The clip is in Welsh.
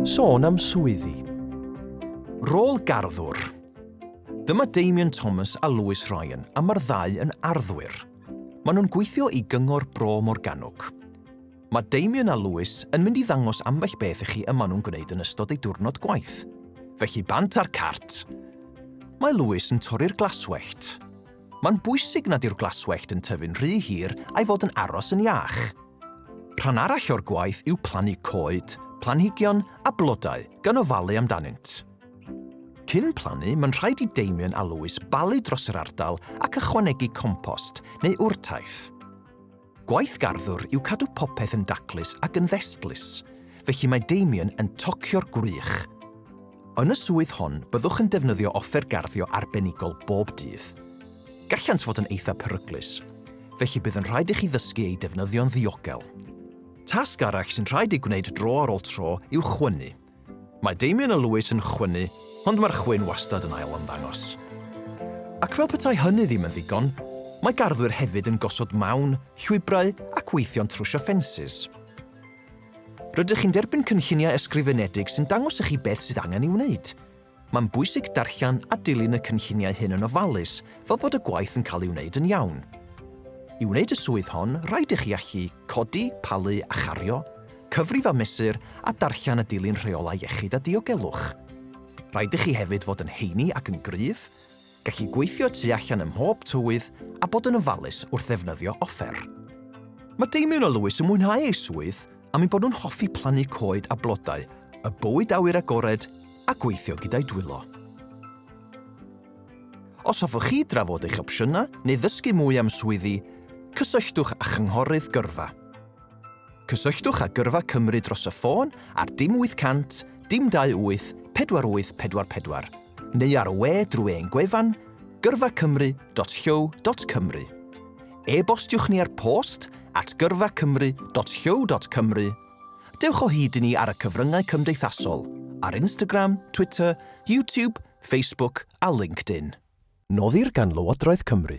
Sôn am swyddi. Rôl garddwr. Dyma Damian Thomas a Lewis Ryan a mae'r ddau yn arddwyr. Maen nhw'n gweithio i Gyngor Bro Morgannwg. Mae Damian a Lewis yn mynd i ddangos ambell beth i chi y maen nhw'n gwneud yn ystod eu diwrnod gwaith. Felly bant a'r cart! Mae Lewis yn torri'r glaswellt. Mae'n bwysig nad yw'r glaswellt yn tyfu'n rhy hir a'i fod yn aros yn iach. Rhan arall o'r gwaith yw plannu coed, planhigion a blodau gan ofalu amdanynt. Cyn plannu, mae'n rhaid i Damien a Lewis balu dros yr ardal ac ychwanegu compost neu wrtaith. Gwaith garddwr yw cadw popeth yn daclus ac yn ddestlus, felly mae Damien yn tocio'r gwrych. Yn y swydd hon, byddwch yn defnyddio offer garddio arbenigol bob dydd. Gallant fod yn eithaf peryglus, felly bydd yn rhaid i chi ddysgu eu defnyddio'n ddiogel. Tasg arall sy'n rhaid ei gwneud dro ar ôl tro yw chwynnu, Mae Damien a Lewis yn chwynnu, ond mae'r chwyn wastad yn ail-ymddangos. Ac fel petai hynny ddim yn ddigon, mae garddwyr hefyd yn gosod mawn, llwybrau ac weithio'n trwsio ffensys. Rydych chi'n derbyn cynlluniau ysgrifenedig sy'n dangos i chi beth sydd angen ei wneud, Mae'n bwysig darllen a dilyn y cynlluniau hyn yn ofalus fel bod y gwaith yn cael ei wneud yn iawn. I wneud y swydd hon, rhaid i chi allu codi, palu a chario, cyfrif a mesur a darllen a dilyn rheolau iechyd a diogelwch. Rhaid i chi hefyd fod yn heini ac yn gryf, Gallu gweithio tu allan ym mhob tywydd a bod yn ofalus wrth ddefnyddio offer. Mae Damien a Lewis yn mwynhau eu swydd am eu bod nhw'n hoffi plannu coed a blodau, y bywyd awyr agored a gweithio gyda'u dwylo. Os hoffech chi drafod eich opsiynau neu ddysgu mwy am swyddi, cysylltwch â Chynghorydd Gyrfa. Cysylltwch â Gyrfa Cymru dros y ffôn ar dim 800 dim 28 4844 neu ar y we drwy ein gwefan gyrfacymru.llyw.cymru. E-bostiwch ni ar post at gyrfacymru.llyw.cymru. Dewch o hyd i ni ar y cyfryngau cymdeithasol, ar Instagram, Twitter, YouTube, Facebook a LinkedIn. Noddir gan Lywodraeth Cymru.